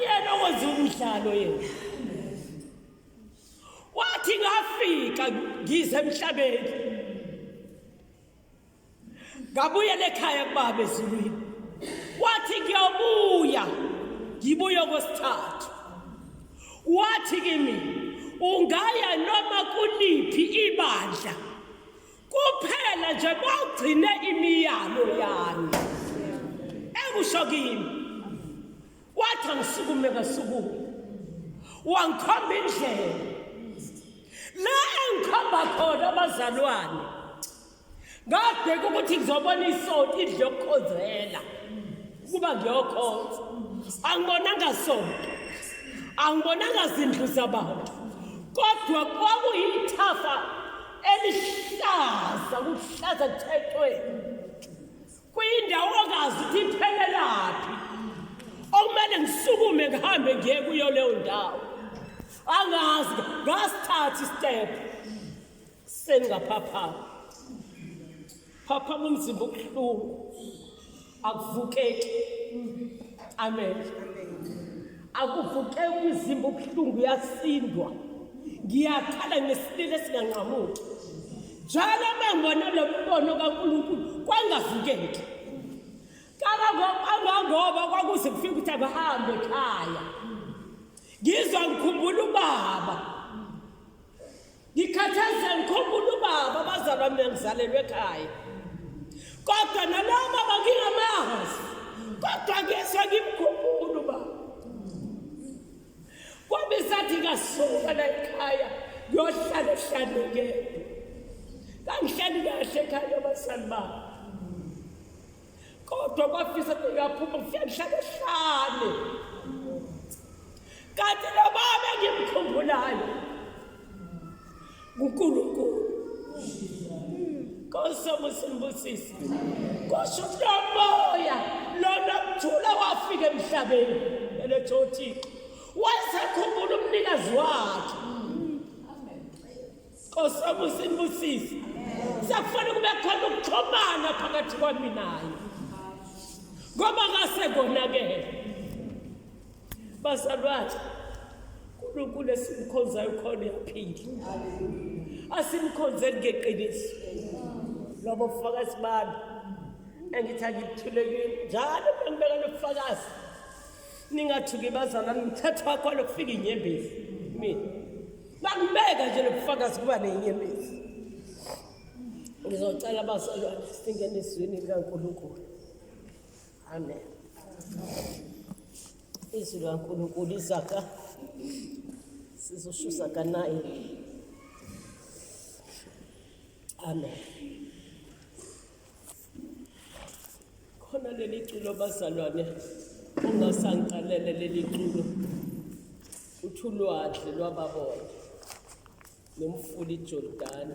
yena okwenza umdlalo yena wathi ngafika ngize emhlabeni ngabuyela ekhaya kubaba ezulwini wathi ngiyobuya ngibuye okwesithathu wathi kimi ungaya noma kuliphi ibandla kuphela nje bawugcine imiyalo yami ekusho kimi wathi angisukume ngasukume wangikhomba indlela la engikhomba khona abazalwane ngabheka ukuthi ngizobona isonto idle yokukhonzela ukuba ngiyokhonza angibonanga sonto angibonanga zindlu zabantu kodwa kwakuyithafa elihlaza kuhlaza thethweni kwindawo ongazi ukuthi iphelelaphi okumele ngisukume ngihambe ngiye kuyo leyo ndawo angazi ngasithatha istep sengingaphaphama phaphama umzimba ubuhlungu akuvukeki amen akuvukeki umzimba ubuhlungu uyasindwa ngiyakhala ngesilile esinganqamuki njalo mangibona lo mbono kankulunkulu kwangavukeki kangangoba kwakuze kufike ukuthi abahambe ekhaya ngizwa ngikhumbula ubaba ngikhathazeka ngikhumbula ubaba abazalwa mina ngizalelwe ekhaya kodwa nalowo baba ngingamazi kodwa ngiyeswa ngimkhumbula ubaba kwabe sathi ngasuka la ekhaya ngiyohlala ehlanekele kangihlali kahle ekhaya abazali babo kodwa kwafisa kungaphuma kufika ngihlale hlale kanti nobaba ngimkhumbulayo ngunkulunkulu kosomusimbusisi kusho kulomoya lona kuthula wafika emhlabeni eletho uthixo wayesakhumbula umnikazi wakhe Nkosi wamusa inibusise. Sekufanele kube khona ukuxhumana phakathi kwami naye. Ngoba ngase konakele. Bazalwane uNkulunkulu esimkhonzayo khona uyaphila. Asimkhonzeni ngeqiniso. Lobo bufakazi bami engithi angikuthulekile njalo bengibeka nobufakazi ningathuki bazalwane ngithatha wakho lokufika inyembezi mina bakubeka nje lobufakazi kuba nenyembezi ngizocela abazalwane singene ezwini likankulunkulu amen izwi likankulunkulu izaka sizoshusa kanaye amen khona leli culo bazalwane ungasangiqalele leli culo uthi ulwadle lwababona nomfula ijordani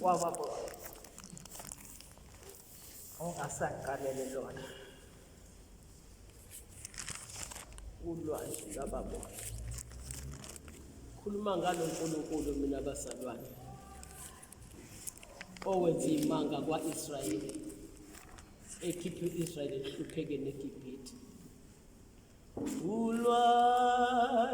wababona ungasangiqalele lona ulwazi lwababona khuluma ngalo nkulunkulu mina bazalwane owenza imanga kwa-israyeli ekhiphe u-israyeli ehluphekeni egibhithe ulwa